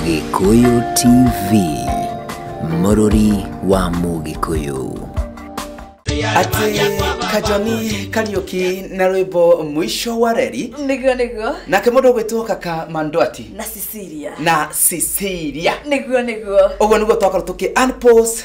Gĩkũyũ TV mũrũri wa mũgĩkũyũ atĩ kajoni kariũki na rwĩmbo mũico wa reri nĩguo nĩguo nake mũndũ ũgwĩtwo kaka mandwati na cecilia na cecilia nĩguo nĩguo ũguo nĩguo twakorwo tũkĩ unpause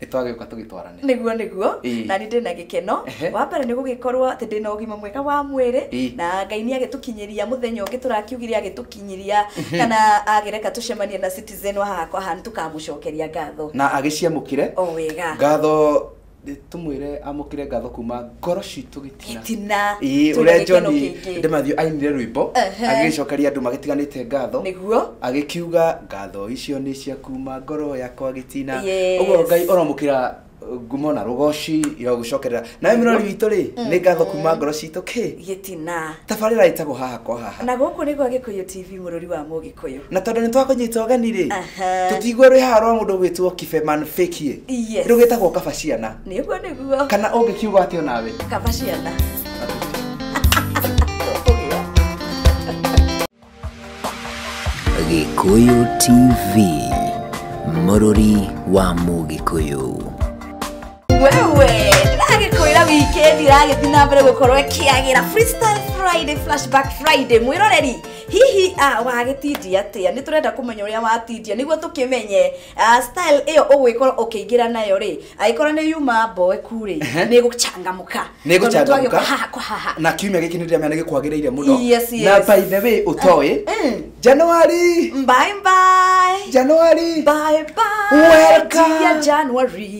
nĩ twagĩũka tũgĩtwarane nĩguo nĩguo Ĩĩ. na nĩ ndĩ na gĩkeno Ehe. wa mbere nĩ gũgĩkorwo atĩ ndĩ na ũgima mwega wa mwĩrĩ Ĩĩ. na ngai nĩ agĩtũkinyĩria mũthenya ũngĩ tũrakiugire agĩtũkinyĩria kana agĩreka tũcemanie na citizen wa haha kwa haha nĩ tũkamũcokeria ngatho na agĩciamũkĩre o wega ngatho tũmwĩre amũkĩre ngatho kuma ngoro citũ gĩ- Gĩtina. Ĩĩ, Twĩna ũrĩa gĩkeno John kĩingĩ. Ndemathio ainire rwĩmbo Ehe. agĩcokeria andũ magĩtiganĩte ngatho Nĩguo. agĩkiuga ngatho icio nĩ cia kuma ngoro yakwa gĩtina Yes. ũguo ngai ũromũkĩra ngumo na rũgoci ya gũcokerera nawe mĩrori witũ rĩ nĩ ngatho kuma ngoro citũ kĩ gĩtina tabarĩra ĩtagwo haha kwa haha na gũkũ nĩ gwa gĩkũyũ tv mũrũri wa mũgĩkũyũ na tondå nä twakånyita ågeni rä Aha. tå tigwo rwä haha rwa må ndå gwä two kibeman fäkie Yes. rä u gä tagwo kaba ciana nĩguo nĩguo kana ũngĩkiuga atĩ o nawe kaba ciana Gĩkũyũ TV mũrũri wa Mũgĩkũyũ. wewe ndĩragĩkwĩra wikendi ĩragĩthi na mbere gũkorwo ĩkĩagĩra freestyle friday flashback friday mwĩroreri hihi a wagĩtindia atĩa nĩ tũrenda kũmenya ũrĩa watindia nĩguo tũkĩmenye Ah, style ĩyo ũgwĩkorwo ũkĩingĩra nayo rĩ agĩkorwo nĩ yuma mboeku rĩ Ehe. nĩ gũchangamũka Nĩ Tondũ gũchangamũka. twagĩũka haha kwa haha na kiumia gĩkĩ nĩ ndĩramenya nĩ gĩkwagĩrĩire mũno Yes, yes. na by the way ũtoĩ Mm. januari bye bye januari bye bye Welcome. dear January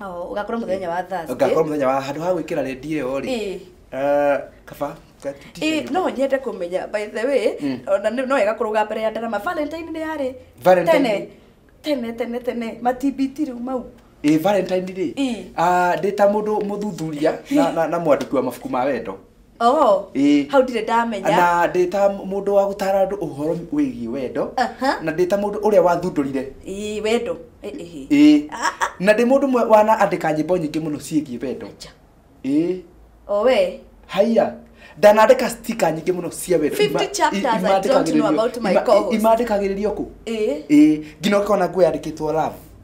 Oh, ugakorwo muthenya wa Thursday. ngakorwo muthenya wa handu ha gwikira rendi iyo ri Eh. eh, kaba ka- t-shirt Eh, ĩyo. no nyende kumenya by the way ona nĩ- no wega kũrũga mbere ya ndarama valentine nĩ yarĩ Valentine. tene tene tene tene matibiti rĩu mau ĩ valentine rĩ Eh. Ah, ndĩ ta mũndũ mũthuthuria na- na- na mwandĩki wa mabuku ma wendo Oh, Ĩĩ. hau ndirĩ ndamenya na ndĩ ta mũndũ wa gũtara andũ ũhoro wĩgiĩ wendo Aha. na ndĩ ta mũndũ ũrĩa wathundũrire Ĩĩ, wendo Ĩ- ĩhĩ. ĩĩ na ndĩ mũndũ ũmwe wanaandĩka nyĩmbo nyingĩ mũno ciĩgiĩ wendo Acha. ĩĩ o we haiya ndanandĩka stika nyingĩ mũno cia wendo 50 Ima- i- chapters I don't know imandĩkagĩrĩrio- about my ima- i- co-host. imandĩkagĩrĩrio kũ Ĩĩ. ĩĩ nginya ũkona nguo yandĩkĩtwo love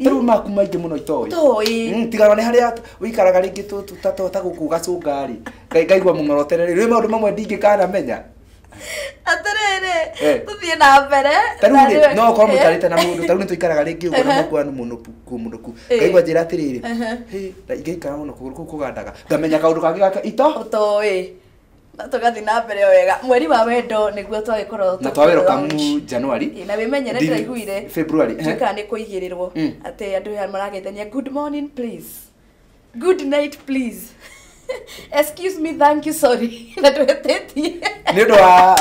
rĩu maku maingĩ mũno itoĩ Itoĩ. Mm, tigana nĩ harĩa ũikaraga rĩngĩ tũ- tũ- ta- ta- ta gũkũ gacũnga rĩ Ngai- ngaigua mũng'orotera rĩ rĩ maũndũ mamwe ndingĩkanamenya atĩrĩrĩ Eh. tũthiĩ na mbere ta rĩu na rĩ rĩu- no korwo Eh. mũikarĩte na mũndũ ta rĩu nĩ tũikaraga rĩngĩ ũguo na Ehe. mũkwa nĩ mũnũku kũ mũnũku Eh. ngaigua njĩra atĩrĩrĩ Ehe. "Hĩ, na ingĩikara mũno kũgũrũ kũu kũgandaga ngamenya kaũndũ kangĩ gaka ito ũtoĩ na tũgathiĩ na mbere o wega mweri wa wendo nĩguo twagĩkorwo na twa welcome January Ĩ, na wĩmenyere Ndini- ndĩraiguire February eh? tuĩkaga nĩ kũigĩrĩrwo Mm. atĩ andũ aya marageithania good morning please good night please excuse me thank you sorry na twĩtĩtie nĩ ũndũ wa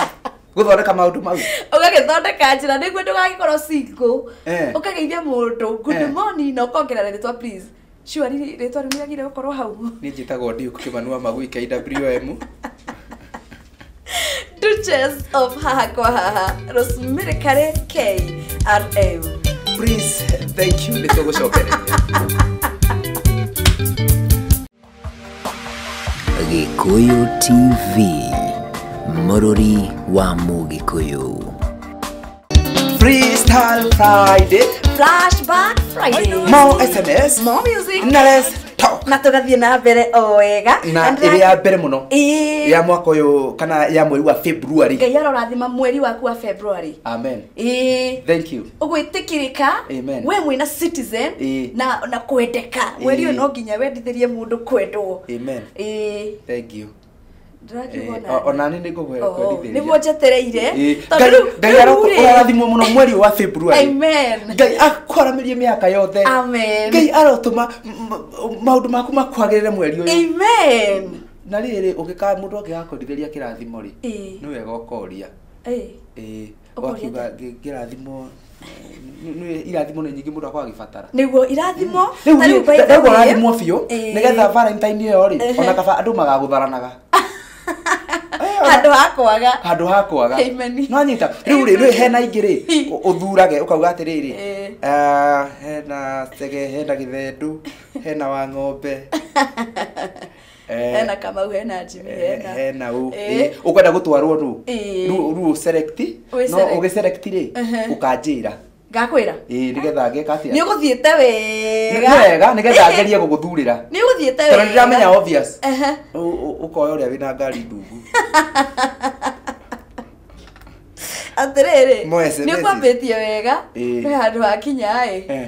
gũthondeka maũndũ mau ũgagĩthondeka njĩra nĩguo ndũgagĩkorwo single Eh. ũkageithia mũndũ Eh. good morning na ũkongerera rĩtwa please Sure riri- rĩtwa rĩu nĩrĩagire gũkorwo hau niĩ njĩtagwo Duke Kĩmanua Magui KWM Duchess of haha kwa haha Rosemary Kare KRM please thank you nĩ tũgũcokereria Gikuyu TV, Mururi wa Mugikuyu. Freestyle Friday, Flashback Friday. more SMS, More music. na let's talk. Na tũgathiĩ na mbere o wega. Na And ĩrĩa ya mbere mũno Ĩĩ. ya mwaka ũyũ kana ya mweri wa February. Ngai arorathima mweri waku wa February. Amen. Ĩĩ. Thank you. ũgwĩtĩkĩrĩka Amen. we mwĩna citizen Ĩĩ. na na kwendeka mweri ũyũ Ĩĩ. no nginya wendithĩrie mũndũ kwendwo Amen. Ĩĩ. Thank you. ndĩrakiuga Eh, o- onani nĩ ngũgwe Oh, kwendithĩria. nĩguo njetereire Eh, tondũ Ngai- rĩu- Ngai rĩu aroku- rĩ- ũrathimwo mũno mweri wa February. Amen. Ngai akwaramĩrie mĩaka yothe Amen. ngai arotũma m- m- maũndũ maku makwagĩrĩre mweri ũyũ Amen. na rĩrĩ ũngĩkaa mũndũ angĩgakũrithĩria kĩrathimo rĩ Ĩĩ. nĩ wega ũkoria Ĩĩ. Ĩĩ. Ũguo akiuga ũgĩte- ngĩ- ngĩrathimwo eh, nĩ- nĩ- irathimo nĩ nyingĩ mũndũ akorwo agĩbatara nĩguo irathimo ta rĩu by the way- ndagũrathimwo biũ Ĩĩ. nĩgetha valentine ĩyo rĩ Ehe. ona kaba andũ magagũtharanaga Eh, ona- handå ha kwaga handå ha kwaga Amen. nwanyita rä u rä rä hena ingä rä å thurage å kauga atä rä rä Ĩĩ. hena tege hena gä thendå hena wa ng'ombe Eh. hena kamau hena jimmy Eh, hena hena ũ Eh. eh, ũkwenda gũtwarwo rũ Eh. rũ rũ select Wĩ no select. ũgĩ select rĩ Ehe. ũkanjĩra ngakwĩra ĩĩ nĩgetha ngeka atĩa nĩ ũgũthiĩte wega Nĩ wega nĩgetha ngerie gũgũthurĩra nĩ ũgũthiĩte tondũ wega ndiramenya obvious Ehe. Ũ- ũ- ũkoya ũrĩa wĩna ngari ndungu atĩrĩrĩ Mo SMS. nĩ ũkwambĩtie wega Ĩĩ. he handũ hakinya ĩ Eh.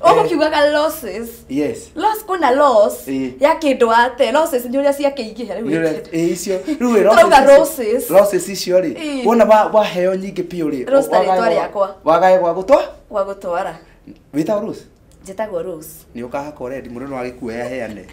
ũgũkiugaga losses yes loss kwĩna loss Ĩĩ. ya kĩndũ wate losses nĩ ũrĩa ciakĩingĩha rĩu wĩkĩte. Ĩ, icio rĩu ĩ, Twauga losses roses. icio- losses icio rĩ Ĩĩ. wona wa- waheo nyingĩ biũ rĩ Rose ta wagae rĩtwa gwa- rĩakwa. wagae gwa gũtwa gwa gũtwara wĩtagwo rose njĩtagwo rose nĩ ũkahakwo rendi mũndũ no agĩkuoya heane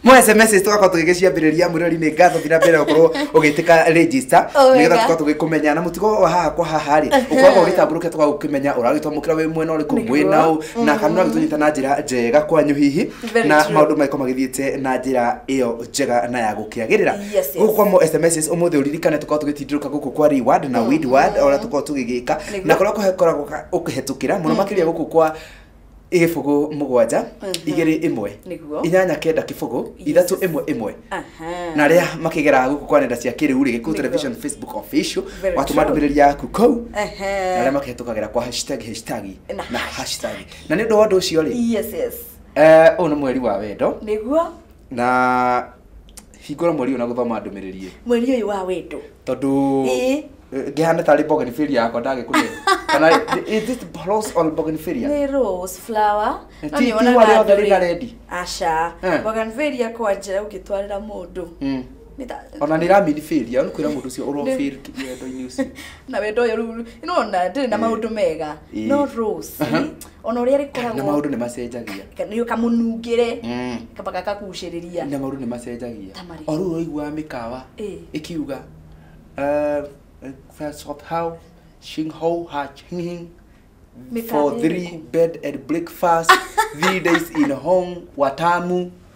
mo sms tũgakorwo tũgĩgĩciambĩrĩria mwĩrori nĩ ngatho thina mbere gũkorwo ũgĩtĩka register Oh, nĩgetha wega. tũkorwo tũgĩkũmenya na mũtugo wa haha kwa haha rĩ ũkoragwo ũgĩtambũrũkia tũgagũkĩmenya ũragĩtwamũkĩra wĩ mwena ũrĩkũ Nĩguo. mwĩna ũ na kana ũgĩtũnyita na njĩra njega kwanyu hihi Very na true. maũndũ maiko magĩthiĩte na njĩra ĩyo njega na ya gũkĩagĩrĩra Yes, yes. gũkũ kwa mo sms ũmũthĩ ũririkane tũkorwo tũgĩtindũrũka gũkũ kwa reward na weed word ona tũkorwo tũgĩgĩka Nĩguo. na kũrĩa kũhe- koragwo ka- ũkĩhetũkĩra mũno makĩria gũkũ kwa igibugu mugwanja igiri imwe Nĩguo. inyanya kenda kibugu ithatu imwe imwe Aha. na rĩa makigera guku kwa nenda cia kiriu ri gikuyu Nĩguo. television facebook official Very watuma true. ndumiriri yaku kau na Ehe. rĩa makihĩtũkagĩra kwa hashtag hashtag Na na hashtag na nĩ ũndũ wa ũndũ ũcio rĩ Yes, yes. eh, ũyũ nĩ mweri wa wendo Nĩguo. na hingũra mweri ũyũ na gũthoma ndũmĩrĩri ĩyo mweri ũyũ wa wendo tondũ Ĩĩ. ngĩhana tarĩ bougainvillea yakwa ndagĩkũrĩa kana is this rose or bougainvillea nĩ rose flower Ti- no ti nĩwonaga wale andũ othe rĩ- rĩna rendi? aca Eh. bougainvillea kwanja ũngĩtwarĩra mũndũ Mm. Nĩ ta- ona nä raminibäria nä kwä ra må ndå å cio å Nĩ- rondo-inä å cio na wendo ũyũ rĩu nĩwona ndĩrĩ na maũndũ mega Ĩĩ. no rose Aha. ona ũrĩa na rĩkoragwo maũndũ nĩ macenjagia nĩ kamũnungĩre Mm. kaba gakakucĩrĩria na maũndũ nĩ macenjagia Ta marĩkũ? o rĩu ũraiguaga mĩkawa Ĩ. ĩkiuga uh, first of how shing how ha ching hing Mĩkawa for three ĩrĩkũ? bed and breakfast three days in hong watamu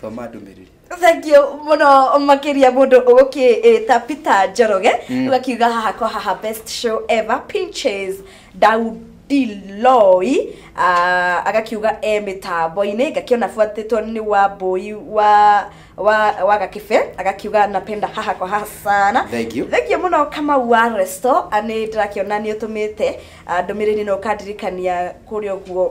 thoma ndũmĩrĩri thengio mũno makĩria mũndũ ũgũkĩĩta peter njoroge Mm. ũgakiuga haha kwa haha best show ever pinches daudiloi uh, agakiuga e mĩtambo-inĩ ngakĩona buatĩtwo nĩ wa mbũi wa wa wa gakĩbe agakiuga napenda haha kwa haha sana Thank you. thengio mũno kamau wa resto nĩ ndĩrakĩona nĩ ũtũmĩte ah, ndũmĩrĩri no ũkandirikania kũrĩa ũguo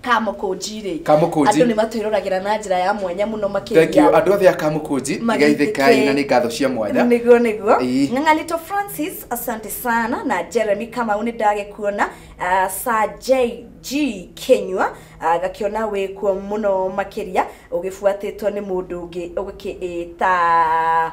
kamũkũnji rĩ Kamũkũnji. andũ nĩ matwĩroragĩra na njĩra ya mwanya mũno Thank you. makĩria andå othe a kamũkũnji igaithĩkai na nä ngatho cia mwanya niguo niguo Ĩĩ. ng'ang'anito francis asante sana na jeremy kamau nä ndagäkuona uh, sa jg kenyua uh, gakiona wä kuo må no makä ria å gä buatä two nä må ndå å ngä å gä kä ä ta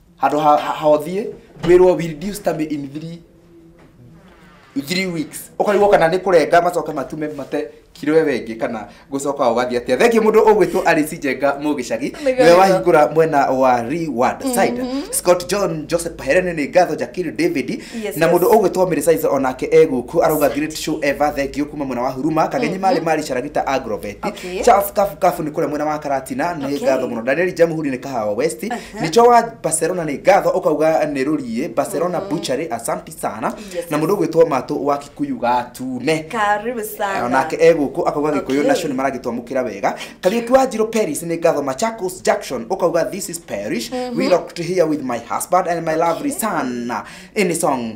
handå ha ha- ha ũthiĩ wĩrwo will do stamp in three three weeks ũkarigwo kana nĩ kũrenga macoke matume mate kiro we wengĩ kana gũcoka ũgathiĩ atĩa thengiĩ mũndũ ũgwĩtwo arĩci njenga mũgĩcagi Nĩguo, nĩwe nĩguo. wahingũra mwena wa reward side scott john joseph paherene nĩ ngatho jakiri david Yes, na yes. mũndũ ũgwĩtwo mĩrĩ saiza onake egũkũ arauga great show ever thengiũ kuma mwena wa huruma kagenyi marĩ marĩ caragita agrovet Okay. charles kafu kafu nĩ kũrĩa mwena wa karatina nĩ Okay. ngatho mũno daniel jamuhuri nĩ kahawa west Nĩkĩo wa Barcelona nĩ ngatho ũkauga nĩ rũriĩ Barcelona Butchery Asante sana Yes, na mũndũ ũgwĩtwo Matũ wa Kikuyu Gatune karibu sana onake e gũkũ akauga gĩkũyũ Okay. nacio nĩ maragĩtwamũkĩra wega kariũki wa njirũ paris nĩ ngatho machakos junction ũkauga this is parish we locked here with my husband and my lovely son in song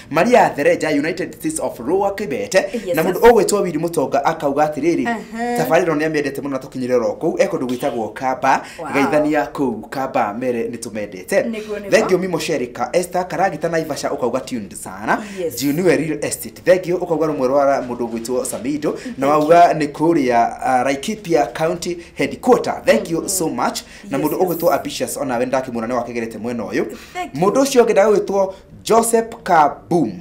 maria thereja united states of rua kibete Yes, na sir. mũndũ ũgwĩtwo wiri mũtonga akauga atĩrĩrĩ Aha. tabarĩra ĩno nĩ amĩendete mũno na tũkinyĩre oro kũu e kũndũ gwĩtagwo kamba Wow. geithania kũu kamba mere nĩ tũmendete Nĩguo, nĩguo. thengio mimo sherika esta karagita na ivasha ũkauga tuned sana Yes. juniwe real estate thengio ũkauga rũmwe rwa mũndũ ũgwĩtwo samido na wauga nĩ kũrĩa uh, laikipia county headquarter thank you so much na Yes, mũndũ yes. ũgwĩtwo ambitious ona we ndakĩmuona nĩ wakegerete mwena ũyũ Thank you. mũndũ ũcio ũngĩ ndagwĩtwo joseph kabum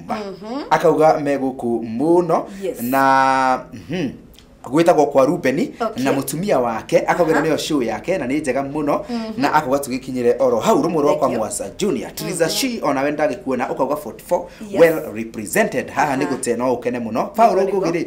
akauga me gũkũ mũno Yes. na mhm, gwĩtagwo kwa rubeni Okay. na mũtumia wake akauga Aha. nĩyo show yake na nĩ njega mũno na akauga tũgĩkinyĩre oro hau rũmwe rwa kwa Thank you. mwasa junior triza shi ona we ndagĩkuona ũkauga 44 Yes. well represented haha Aha. nĩ gũte no ũkene mũno paul Nĩguo, ngũgĩ rĩ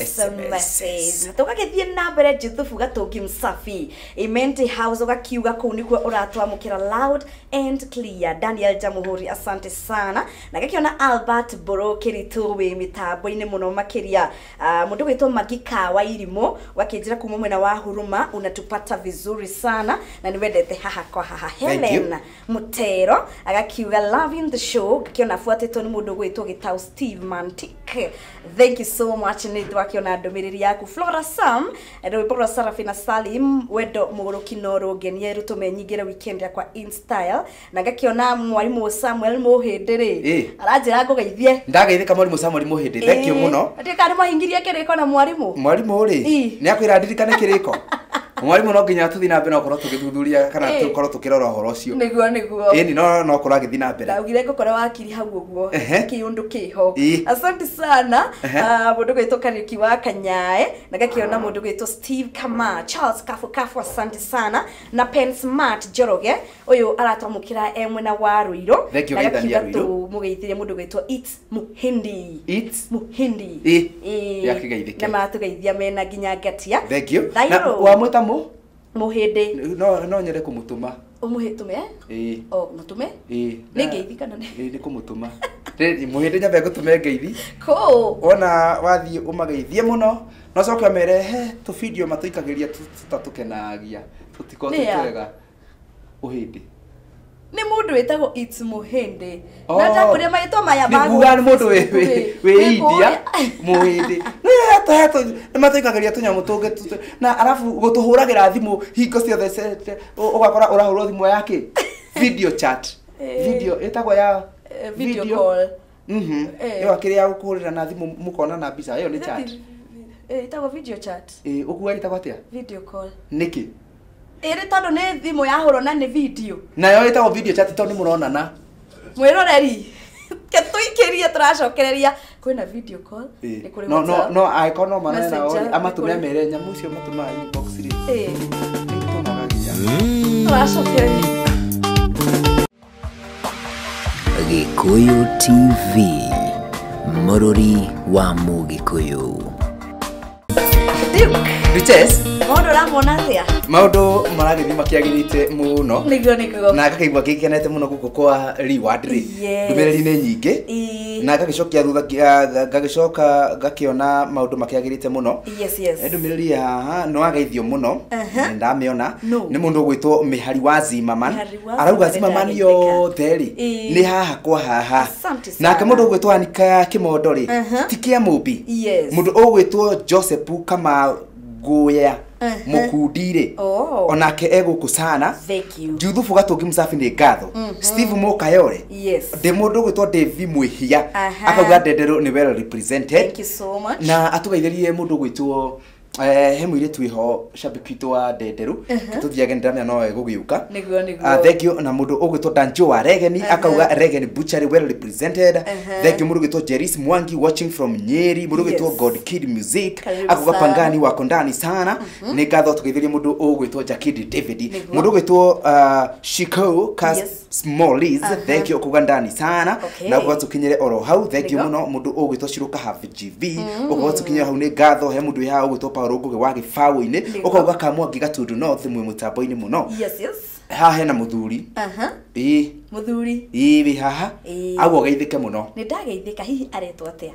SMSs. na tũgagĩthiĩ na mbere juthubu gatungi msafi imenti house ũgakiuga kũu nĩkuo ũratwamũkĩra loud and clear daniel jamuhuri asante sana na gakĩona albert mbũrũ kĩritũ wĩ mĩtambo-inĩ mũno makĩria Ah, mũndũ gwĩtwo magi kawa irimũ wakĩnjĩra kuma mwena wa huruma unatupata vizuri sana na nĩwendete haha kwa haha Thank you. helen Mũtero agakiuga loving the show ngakĩona abuatĩtwo nĩ mũndũ ũgwĩtwo gĩtaũ Steve Mantic thank you so much nĩ ndĩrakĩona ndũmĩrĩri yaku Flora Sam rwĩmbo rwa Sarafina Salim wendo mũgũrũki no rũngenie rũtũme nyingĩre weekend yakwa in style na ngakĩona mwarimũ Samuel Mũhĩndĩ rĩ Ĩ. aranjĩra ngũgeithie ndageithĩka mwarimũ samori mũhĩndĩ thenkiũ mũno ndĩkarĩ mwahingirie kĩrĩko na mwarimũ mwarimũ rĩ Ĩ. nĩ akwĩra ndirikane kĩrĩko mwarimũ no nginya tũthiĩ na mbere no korwo tũgĩthuthuria kana Eh. tũkorwo tũkĩrora ũhoro ũcio nĩguo nĩguo ĩni no no korwo agĩthiĩ na mbere ndaugire ngũkora wakiri hau ũguo Ehe. kĩũndũ kĩho Ĩ. asante sana Ehe. Ah, mũndũ gwĩtwo kariuki wa kanyae na gakĩona mũndũ gwĩtwo steve kama charles kafu kafu asante sana na pen smart njoroge ũyũ aratwamũkĩra e mwena wa rũirũ Thank you, na Geithania gakiuga Rũirũ. tũmũgeithĩrie mũndũ gwĩtwo its muhindi It's muhindi Eh, Eh, ya kĩgeithĩke. na matũgeithia mena nginya ngatia thank you. Na Thairũ. wamwĩta mũ? muhindi No no nyende kũmũtũma. umuhitume Ĩĩ. o mutume Ĩĩ. nä ngeithi kana nä Ĩĩ, nĩ kũmũtũma. Rĩ- Mũhĩndĩ nyambe ngũtũme ngeithi. kå Wona wathiĩ ũmageithie mũno. No coke ũmere he tũbidio matũikagĩria tũ- tũtatũkenagia. Tũtikoragwo twĩ Nĩa. twega. Ũhĩndĩ. nä må ndå wä tagwo må hende Oh. na ndakå ria marä two maya nĩguga nĩ mũndũ wĩ- wĩ- wĩ india mũhĩndĩ nĩ matũikagĩria tũnyamũ tũngĩ tũ- tũ- na arabu gũtũhũragĩra thimũ hingo ciothe ce- ce- ũ- ũgakora ũrahũrwo thimũ yake video chat Eh. video ĩtagwo ya Eh, video video- call. Mhm. Eh. Ĩyo akĩrĩ ya gũkũhũrĩra na thimũ mũkona na mbica ĩyo nĩ chat. Eh, ĩtagwo video chat Ĩ ũkuga ĩtagwo atĩa? video call Nĩkĩ? ĩrĩ tondũ nĩ thimũ yahũrwo na nĩ video Nayo ĩtagwo video chat tondũ nĩmũronana. mwĩroreri ke tũikĩrie tũracokereria kwĩna video call Ĩ. nĩ kũrĩ No no WhatsApp. no angĩkorwo no marore nao Messenger, rĩ, amatũme nĩ kũrĩ- mere nyamũ icio matũmaga inbox rĩ. Eh, Nĩitũmaga nginya. tũracokereria Gĩkũyũ TV, mũrũri wa Mũgĩkũyũ. Riches, Mũndũ ũramwona atĩa? maũndũ maragĩthiĩ makĩagĩrĩte mũno Nĩguo nĩ kugo. na ngakaigua ngĩkenete mũno gũkũ kwa reward rĩ Yes. ndũmĩrĩri-inĩ nyingĩ Ĩĩ. na ngagĩcokia thutha nga- nga- ngagĩcoka ngakĩona maũndũ makĩagĩrĩte mũno Yes, yes. Nĩ ndũmĩrĩri ya haha nĩ wageithio mũno Aha. nĩ ndamĩona No. nĩ mũndũ ũgwĩtwo mĩhari wa zimaman Mĩhari arauga cimamani yothe rĩ Ĩĩ. nĩ haha kwa haha Asante sana. nake mũndũ ũgwĩtwo anika kĩmondo rĩ Aha. ti kĩa mũmbi Yes. mũndũ ũgwĩtwo josepu kama ngũya Aha. mũkundi rĩ Oh. onake egũkũ sana Thank you. juthubu gatũngi mũcabi nĩ ngatho steve mũkayore Yes. ndĩ mũndũ ũgwĩtwo ndĩvi mwĩhia Aha. akauga ndenderũ nĩ well represented Thank you so much. na atũgeithĩrie mũndũ ũgwĩtwo Eh, he mũirĩtu wĩho shabiki witũ wa ndenderũ tũthiage nĩndamenya no egũgĩũka nĩguo Ah, nĩguo thengio na mũndũ ũgwĩtwo danjo wa regeni akauga regeni butchery well represented thengio mũndũ ũgwĩtwo jeris mwangi watching from nyeri mũndũ ũgwĩtwo Yes. god kid music Karibu akauga sana. pangani wako ndani sana nĩ ngatho tũgeithĩrie mũndũ ũgwĩtwo jakidi david Nĩguo. mũndũ ũgwĩtwo ah, shikau kas Yes. Smallies, Aha. thank you kuga ndani sana Okay. na gwa tukinyire oro hau thank you Ndigo. muno mundu ugwitwo ciruka have gv ugwa tukinyire hau ni ngatho he mundu ya ugwitwo Paul ngugi wa gibawo-ini Ndigo. ukauga kamwa ngiga tundu no thi mwi mutambo-ini muno yes yes ha hena muthuri aha ii muthuri ii wi haha Ĩĩ. agwo geithike muno nä ndageithä ka hihi aretwo atä a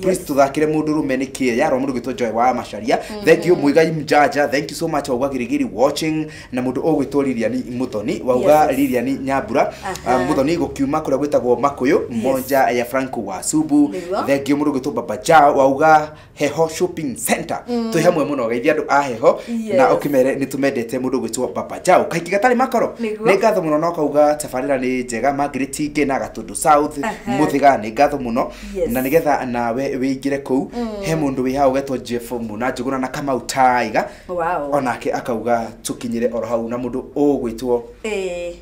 Please tuthakire mundu rume ni kie yaro mundu gitwo Joy wa Macharia. Thank you Muigai Mjaja. Thank you so much Ogwa Girigiri watching na mundu ogwitwo Lilian Muthoni wauga Yes. Lilian Nyambura. Aha. Uh, Muthoni gukiuma kuria gwitagwo Makuyu moja ya Franco wa Subu. Nĩguo. Thank you mundu gitwo Baba Jao wauga Heho Shopping Center. Twi hamwe muno geithia andu a Heho Yes. na ukimere ni tumendete mundu gwitwo Baba Jao. Kaingi gatari makoro. Nĩguo. Ni ngatho muno no kauga tabarira ni njega Margaret Nge na Gatundu South. Aha. Muthiga ni ngatho muno. Yes. na nigetha nawe wĩingĩre kũu he mũndũ wĩ hau wetwo jeff muna njũgũna na kamau taiga Wow. onake akauga tũkinyĩre oro hau na mũndũ ũgwĩtwo Eh,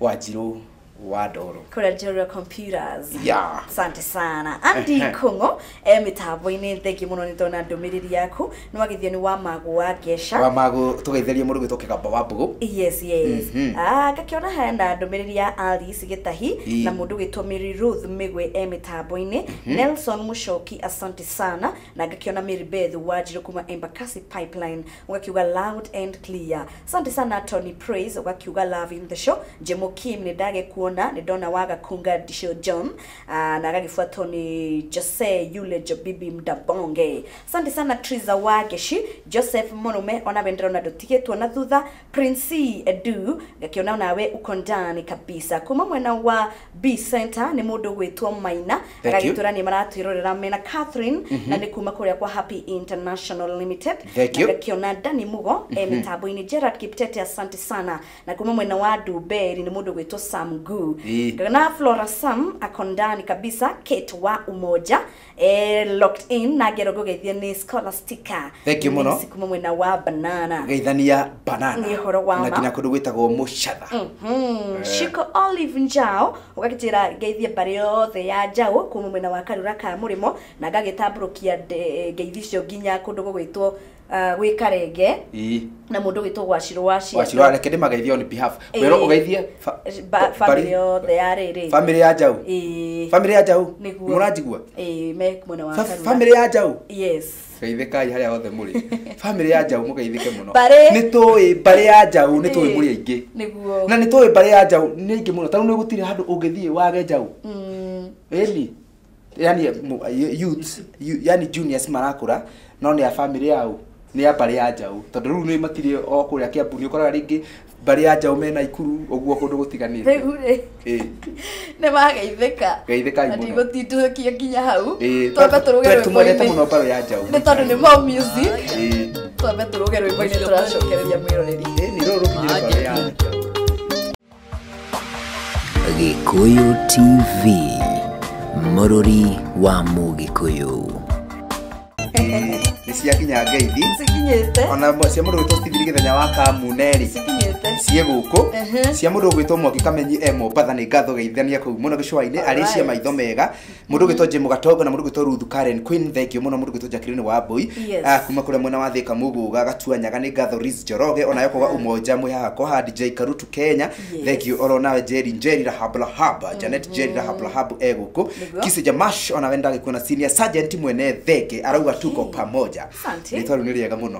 wanjirũ wa ndoro kũrĩa Njorua Computers. Yeah. Asante sana. Andy Ehe. Kung'o e mĩtambo-inĩ thengi mũno nĩ ndona ndũmĩrĩri yaku nĩ wa gĩthioni wa magũ wa ngesha wa magũ tũgeithĩrie mũndũ gwĩtwo kĩgamba wa mbũgũ yes yes Mhm. Ah, ngakĩona hena ndũmĩrĩri ya alice gĩtahi Ii. na mũndũ gwĩtwo mary ruth mĩgwe e mĩtambo-inĩ nelson mũcoki asante sana na ngakĩona mary beth wanjirũ kuma embakasi pipeline ũgakiuga loud and clear asante sana tony praise ũgakiuga love in the show jemo kim nĩ ndagĩkuona nĩ ndona waga kunga disho john Ah, na agagĩbuatwo nĩ jose yule jobibi mdabonge Sande sana Triza wa Geshi, Joseph Mũrũme ona we ndĩrona ndũtigĩtwo na thutha, Prince Edu ngakĩona onawe uko ndani kabisa. Kuma mwena wa B Center nĩ mũndũ ũgwĩtwo Maina Thank you. agagĩtwĩra nĩ maratwĩrorera mena Catherine na nĩ kuma kũrĩa kwa Happy International Limited Thank na you. ngakĩona Dani Mugo e mĩtambo-inĩ Gerard Kiptete asante sana na kuma mwena wa Nduberi nĩ mũndũ ũgwĩtwo Sam Gu Ii. na Flora Sam ako ndani kabisa Kate wa Umoja Eh, locked in na ngero ngũgeithie nĩ scholastica Thank you mũno. Nĩ kuma mwena wa banana geithania banana Nĩ ũhoro wa na ma. nginya kũndũ gwĩtagwo mũcatha Mhm. Shiko Olive Njao ũgagĩtĩra ngeithie mbarĩ yothe ya Njao kuma mwena wa karura ka mũrĩmo na ngagĩtambũrũkia nde- ngeithi icio nginya kũndũ gũgwĩtwo ah, gwĩ karenge ii na mũndũ witũ gwacirwo wa cianda wacirwo areke ndĩmageithie on behalf Ĩĩ. werwo ũgeithie fa- Ba- ba- famĩlĩ bari- yothe ya rĩrĩ famĩlĩ ya njaũ Ĩĩ. famĩlĩ ya njaũ Nĩguo. mũranjigua Ĩĩ, me mwena wa Fa- Karura. famĩlĩ ya njaũ yes geithĩkai harĩa othe mũrĩ famĩlĩ ya njaũ mũgeithĩke mũno Mbarĩ. nĩ tũĩ mbarĩ ya njaũ nĩ tũĩ Ĩĩ. mũrĩ aingĩ nĩguo na nĩ tũĩ mbarĩ ya njaũ nĩ aingĩ mũno tarĩu nĩ gũtirĩ handũ ũngĩthiĩ wage njaũ Mm, ĩni yani mu- y- youths yu- yani juniors marakũra no nĩ a family yao nĩ a mbarĩ ya njaũ tondũ rĩu nĩ matirĩ o kũrĩa kĩambu nĩ ũkoraga rĩngĩ mbarĩ ya njaũ mena ikuru ũguo kũndũ gũtiganĩte rĩu rĩ Ĩĩ. nĩ mageithĩka Geithĩkai mũno. ndigũtindũkia nginya hau Ĩĩ, twambe tũrũge twe- twendete mũno rwĩmbo-inĩ mbarĩ ya njaũ nĩ tondũ nĩ mau music Ĩĩ. twambe tũrũge rwĩmbo-inĩ tũracokereria mwĩroreri Ĩĩ, nĩ rũrũ rũkinyĩre mbarĩ ya njaũ Gĩkũyũ TV, mũrũri wa Mũgĩkũyũ. nä ciakinya ngeithi cikinyĩte ona mwe- cia må ndå gwä two stithiri gä thenya wa kamuneri cikinyĩte ciä gå kå cia må ndå gwä two mwaki kamenyi e mombatha nä ngatho geithania kå u må no gä cwainä arä cia maitho mega Mũndũ gwitũ Jim Gatongo na mũndũ gwitũ Ruth Karen Queen thengiũ mũno mũndũ gwitũ Jacqueline wa Mbui Yes. Ah, kuma kũrĩa mwena wa Thika Muguga Gatuanyaga nĩ ngatho Riz Njoroge ona yo kuga umoja mwĩ haha kwa haha DJ Karutu Kenya Yes. thengiũ oro nawe Jerry Njeri Rahab Rahab Janet Njeri Rahab Rahab e gũkũ Nĩguo. Kisi Jamash ona we ndagĩkuona senior sergeant mwene thenge arauga tuko pamoja Asante. Rĩtwa rĩu nĩ rĩega mũno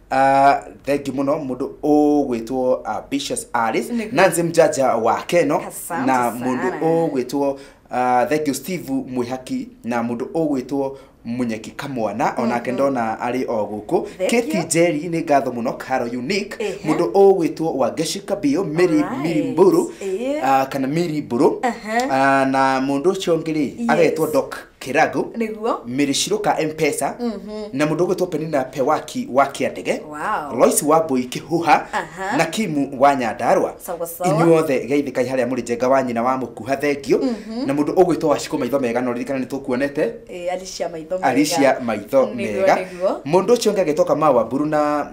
Ah, thengi muno mundu ugwitwo ambitious aris Nĩguo. nancy mjaja wa keno Asante na mundu sana. ugwitwo ah, thank you steve mwihaki na mundu ugwitwo munyeki kamwana onake ndona ari o guku Thank keti you. njeri nĩ ngatho mũno karo unique Ehe. mũndũ ũgwĩtwo wangeshi kabio miri Alright. miri mburu Eh. ah, kana miri mburu Aha. Ah, na mũndũ ũcio ũngĩ rĩ Yes. agetwo dok kĩragu nĩguo mĩrĩcirũka mpesa na mũndũ ũgwĩtwo penina pewaki wa kĩandege Wow. lois wa mbũi kĩhuha Aha. na kimu wa nyandarwa Sawa sawa. inyuothe geithĩkai harĩa mũrĩ njenga wa nyina wa mũkuha thengio na mũndũ ũgwĩtwo wacikũ maitho mega no ririkana nĩ tũkuonete Eh, alicia maitho mega. alicia maitho Nĩguo, mega nĩguo. mũndũ ũcio ũngĩ agĩtoka mawa mburu na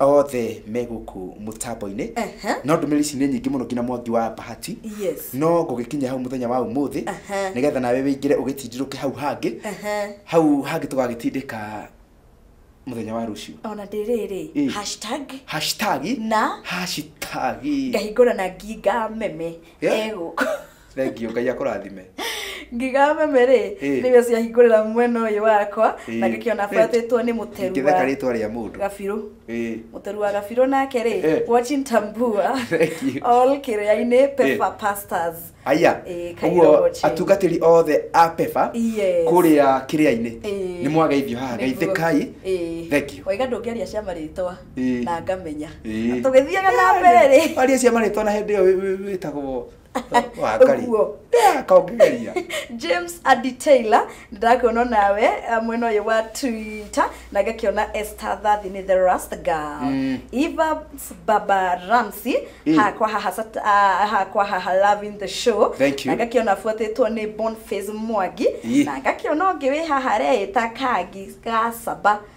othe me gũkũ mũtambo-inĩ Ehe. no ndũmĩrĩri ici nĩ nyingĩ mũno nginya mwangi wa bahati Yes. no ngũgĩkinya hau mũthenya wa ũmũthĩ Ehe. nĩgetha nawe wĩingĩre ũgĩtindirũke hau hangĩ Ehe. hau hangĩ tũgagĩtindĩka mũthenya wa rũciũ ona ndĩrĩrĩ Ĩ. hashtag hashtagi Na? hashtagi ngahingũra na nginga meme Yeah. egũkũ Thengiũ, Ngai akũrathime. ngiga meme rĩ Ĩ. nĩwe ciahingũrĩra mwena ũyũ wakwa Ĩ. na ngĩkĩona buatĩtwo nĩ mũteru Ingĩtheka wa rĩtwa rĩa mũndũ. gabirũ Ĩ. mũteru wa gabirũ nake Ĩ. rĩ watching tambua Thank you. all kĩrĩa-inĩ pepa pastors Aya, Ĩ, kairĩro ũguo watching. atungatĩri othe a Pefa Yes. kũrĩa kĩrĩa-inĩ Ĩ. nĩ mwageithio haha Nĩguo. geithĩkai Ĩ. thengiũ waiga ndũngĩaria cia marĩtwa Ĩ. na ngamenya Ĩ. Na tũgĩthiaga na mbere rĩ aria cia marĩtwa na hĩndĩ ĩyo wĩ- wĩ- wĩtagwo Ũguo. kaũngĩgeria james adi taylor ndĩrakuona nawe eh, mwena ũyũ wa twitter na ngakĩona esther thathi nĩ the rust girl mm. eva baba ramsey Eh. hakwa haha sat- ah, hakwa haha loving the show Thank you. na ngakĩona abuatĩtwo nĩ bonface mwangi Eh. na ngakĩona ũngĩ wĩ haha reĩta kangi gacaba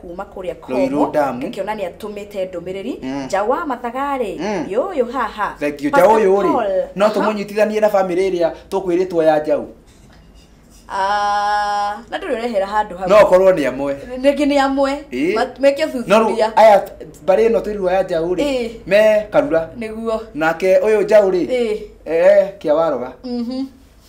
kuma kũrĩa Rũirũ komo Damu. ngĩkĩona nĩ atũmĩte ndũmĩrĩri Mm. nja wa mathagarĩ Mm. yũyũ haha thengio nja Pastor ũyũ rĩ Paul, no aha. tũmũnyitithanie na bamĩrĩ ĩrĩa tũkwĩrĩtwo ya njaũ Ah, na ndũrĩ ũrehera handũ hau no ũkorwo nĩ amwe nĩngĩ nĩ amwe Ĩ. ma- meke no rĩu thuthuria aya mbarĩ ĩno twĩrirwo ya njaũ rĩ Ĩ. me karura nĩguo nake ũyũ njaũ rĩ Ĩ. eh, kĩa waroga Mhm.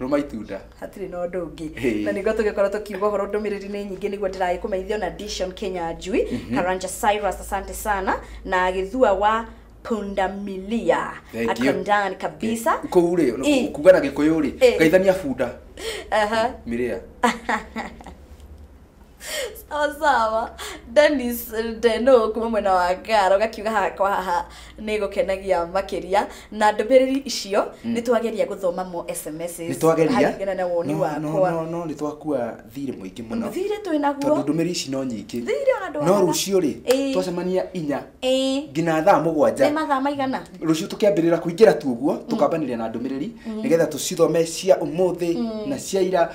rũma itunda hatirĩ na ũndũ ũngĩ Hey. na nĩguo tũgĩkorwo tũkiuga ũhoro ndũmĩrĩri nĩ nyingĩ nĩguo ndĩragĩ kũmeithio na dishon kenya njui karanja cyrus asante sana na gĩthua wa pundamilia Thank you. akondan kabisa kũu Eh. rĩ kuga na gĩkũyũ rĩ Eh. ngaithania bunda Aha. mĩrĩa Sawa sawa. Dennis Ndeno kuma mwena wa Ngara ũgakiuga haha kwa haha nĩ gũkenagia makĩria na ndũmĩrĩri icio nĩ twageria gũthoma mo sms nĩ twageria haringana na woni no, no, wakwa no, no nĩ twakua thirĩ mũingĩ mũno thirĩ twĩ naguo tondũ ndũmĩrĩri ici no nyingĩ thirĩ ona no ndwagaga rũciũ rĩ Ĩĩ. twacemania inya Ĩĩ. nginya thaa nĩ mũgwanja mathaa maigana rũciũ tũkĩambĩrĩra kũingĩra tu ũguo tũkambanĩria na ndũmĩrĩri nĩgetha tũcithome cia ũmũthĩ na cia ira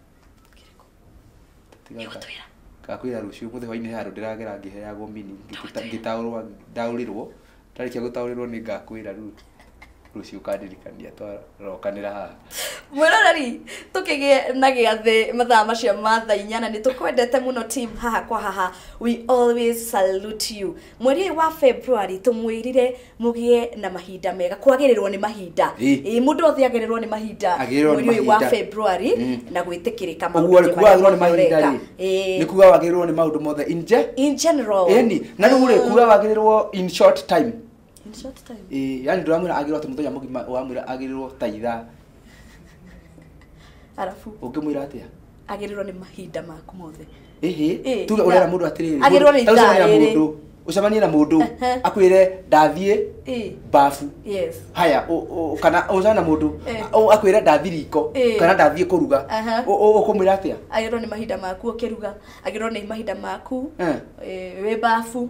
Kĩrĩkũ? Tiga Nĩ nga- ũgũtwĩra. ngakwĩra rũciũ mũthĩ hwainĩ he handũ ndĩragera ngĩheagwo mini ngĩta- Ndagũtwĩra. ngĩtaũrwa ndaũrĩrwo ndarĩkia gũtaũrĩrwo nĩ ngakwĩra rĩu rũciũ ũkandirikania twarokanĩra haha mwĩroreri tũkĩgĩe na gĩathĩ mathaa macio ma thaa inyana nĩ tũkwendete mũno team haha kwa haha we always salute you Mweri ũyũ wa February tũmwĩrire mũgĩe na mahinda mega kwagĩrĩrwo nĩ mahinda Ĩ. Ĩ, mũndũ othe agĩrĩrwo nĩ mahinda Agĩrĩrwo nĩ mweri ũyũ wa mahinda. February Mm. na gwĩtĩkĩrĩka ũguo maũndũ rĩ kuga wagĩrĩrwo nĩ mahinda rĩ Ĩ. nĩ kuga wagĩrĩrwo nĩ maũndũ mothe in je in general ĩni na rĩu rĩ kuga wagĩrĩrwo in short time in short time Ĩ, yani ndũramwĩra agĩrĩrwo atĩ mũthenya mũgima ũramwĩra agĩrĩrwo ta ithaa arabu ũngĩmwĩra atĩa agĩrĩrwo nĩ mahinda maku mothe Ĩhĩ, Ĩĩ, tuge ũrera na- mũndũ atĩrĩrĩ agĩrĩrwo nĩ mũndũ- ithaa ũcemanie na rĩrĩ. mũndũ ũcemanie na mũndũ Ehe. akwĩre ndathiĩ Ĩĩ, bafu yes haya ũ- ũ- kana ũcemanie na mũndũ Eh. ũ- akwĩre ndathiĩ riko Ĩĩ. kana ndathiĩ kũruga Aha. Ũ- ũ- ũkũmwĩra atĩa agĩrĩrwo nĩ mahinda maku ũkĩruga agĩrĩrwo nĩ mahinda maku Eh. eh, wĩ babu